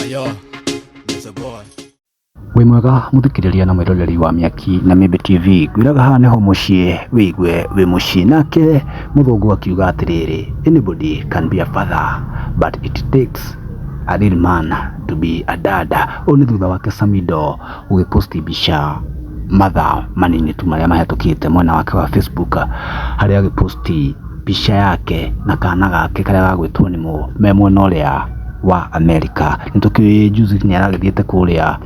Ayo, Mr. Boy. wĩ mwega mũthikĩrĩria na mwĩroreri wa mĩaki na mĩmbi tv ngwĩraga haha nĩho mũciĩ wĩigue wĩ mũciĩ nake mũthũngũ akiuga atĩrĩrĩ anybody can be a father but it takes a real man to be a dad ũyũ nĩ thutha wake samido gũgĩposti mbica mathaa manini tu marĩa mahĩtũkĩte mwena wake wa facebook harĩa agĩposti mbica yake na kana gake karĩa gagwĩtwo nĩ Mo me mwena ũrĩa wa Amerika. Nĩtũkĩũĩ juzi nĩaragĩthiĩte kũrĩa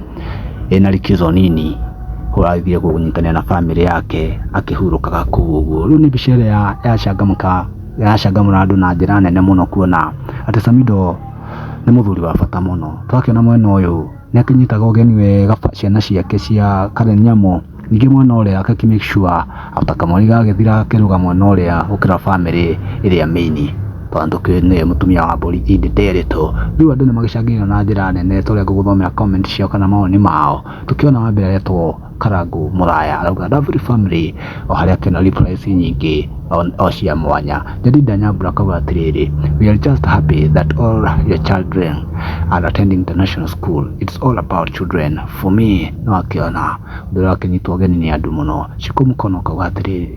ena likizo nini ũragĩthire kũnyitanĩra na bamĩrĩ yake akĩhurũkaga kũu ũguo. Rĩu nĩ mbica ĩrĩa yacangamũka yacangamũra andũ na njĩra nene mũno kuona atĩ Samido nĩ mũthuri wa bata mũno. Twakĩona mwena ũyũ nĩ akĩnyitaga ũgeni wega ciana ciake cia karen nĩamu ningĩ mwana ũrĩa aka ki make sure after kamweri gagĩthira akerũga mwana ũrĩa gũkĩra bamĩrĩ ĩrĩa mĩini tondũ kĩu nĩ mũtumia wa mbũri ĩndĩ nderĩtwo. Rĩu andũ nĩ magĩcangĩire na njĩra nene ta ũrĩa ngũgũthomera comment ciao kana mawoni mao tũkĩona wa mbere aretwo... Karangũ mũraya arauga Lovely Family o harĩa kena replies nyingĩ on- o cia mwanya Jadida Nyambura akauga atĩrĩrĩ we are just happy that all your children are attending international school it's all about children for me no akĩona ũndũ ũrĩa wakĩnyitwo ũgeni nĩ andũ mũno Shiko Mũkono akauga atĩrĩrĩ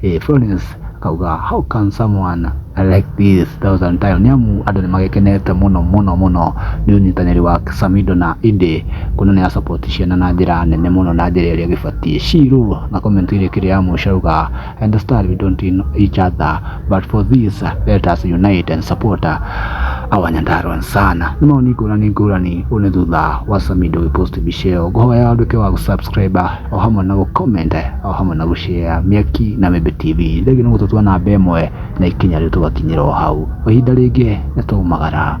Hey, Florence akauga how can someone like this thousand times nĩ amu andũ nĩ magĩkenete mũno mũno mũno nĩ ũnyitanĩri wa Samido na Inde kuona nĩ support ciana na njĩra nene mũno na njĩra ĩrĩa gĩbatiĩ Shiru na comment ĩrĩa kĩrĩa ya mũico auga I understand we don't know each other but for this let us unite and support our Nyandarua sana nĩ maoni ngũrani ngũrani ũyũ nĩ thutha wa Samido gĩpost mbica ĩyo ngũhoya nduĩke wa gũsubscribe o hamwe na gũ comment o hamwe na gũ share Mĩaki na Mĩmbi TV rĩngĩ nĩ gũtũtua namba ĩmwe na ikinya rĩu tũgakinyĩra o hau o ihinda rĩngĩ nĩ twaumagara